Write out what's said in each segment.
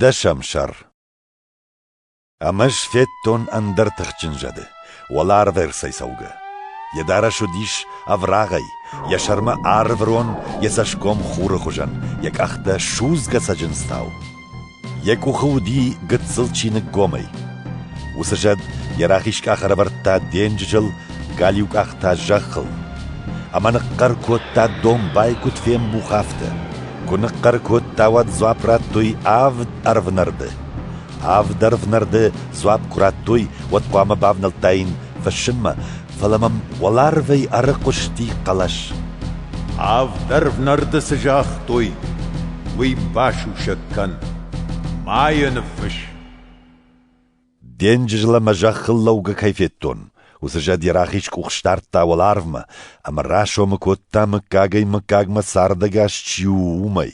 Дӕсӕм сӕр Ам ӕз федтон ӕндӕр тыхджын зӕды, уӕларвӕрсӕй цӕугӕ. Йӕ дарӕс уыдис ӕврагъӕй, йӕ сӕрмӕ арврон, йӕ цӕсгом хуры хуызӕн, йӕ къӕхтӕ судзгӕ цӕджындзтау. Йӕ къухы уыди гыццыл чиныггомӕй. Уыцы зӕд йӕ рахиз къах ӕрӕвӕрдта денджызыл, галиу къах та зӕххыл. Ӕмӕ ныхъхъӕр кодта домбай куыд фембух, афтӕ. Куы ныхъхъӕр кодта, уӕд дзуапп радтой авд ӕрвнӕрды. Авд ӕрвнӕрды дзуапп куы радтой, уӕд хъуамӕ бавнӕлдтаин фыссынмӕ, фӕлӕ мӕм уӕларвӕй ӕрыхъуысти хъӕлӕс. Авд ӕрвнӕрды цы загътой, уый басусӕг кӕн, ма йӕ ныффысс. Денджыз лӕ мӕ зӕххыл лӕугӕ кӕй федтон, уыцы зӕд йӕ рахиз къух сдардта уӕларвмӕ ӕмӕ расомы кодта, мыггагӕй мыггагмӕ цардӕгас чи у, уымӕй.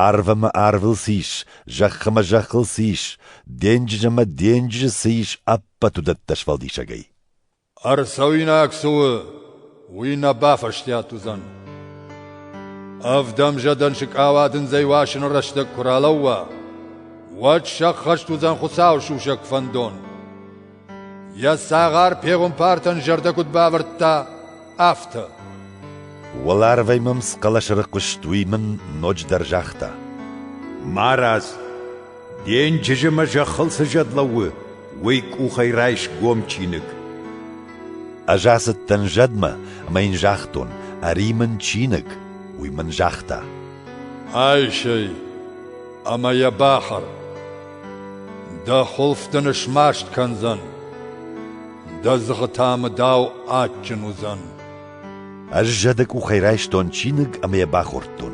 Арв ӕмӕ арвыл цы ис, зӕхх ӕмӕ зӕххыл цы ис, денджыз ӕмӕ денджызы цы ис, ӕппӕт уыдӕттӕ сфӕлдисӕгӕй. Ӕрцӕуинаг цы у, уый нӕ бафӕстиат уыдзӕн. Ӕвдӕмзӕдӕн сыкъауадындзӕй уасыны рӕстӕг куы ралӕууа, уӕд сӕххӕст уыдзӕн Хуыцауы сусӕг фӕндон. Йӕ цагъар пегъуымпартӕн зӕрдӕ куыд бавӕрдта, афтӕ. Уӕларвӕй мӕм цы хъӕлӕс ӕрыхъуыст, уый мын ноджыдӕр загъта: «Марадз!» Денджызы мӕ зӕххыл цы зӕд лӕууы, уый къухӕй райс гом чиныг. Ӕз ацыдтӕн зӕдмӕ, ӕмӕ йын загътон, ӕри мын чиныг. Уый мын загъта. Айсӕй ӕмӕ йӕ бахӕр. Дӕ хуылф дын смаст кӕндзӕн. Дӕ дзыхы та мыдау адджын уыдзӕн. Ӕз зӕды къухӕй райстон чиныг ӕмӕ йӕ бахордтон.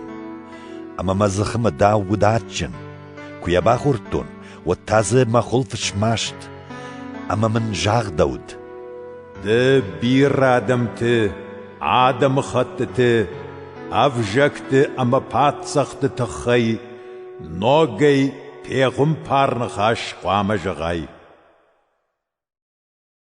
Ӕмӕ мӕ дзыхы мӕ дау уыд адджын. Куы йӕ бахордтон, уӕд та дзы мӕ хуылф смаст, ӕмӕ мын загъдӕуыд. Ды бирӕ адӕмты, адӕмыхӕттыты, ӕвзӕгты ӕмӕ паддзӕхты тыххӕй ногӕй пегъуымпар ныхас хъуамӕ зӕгъай.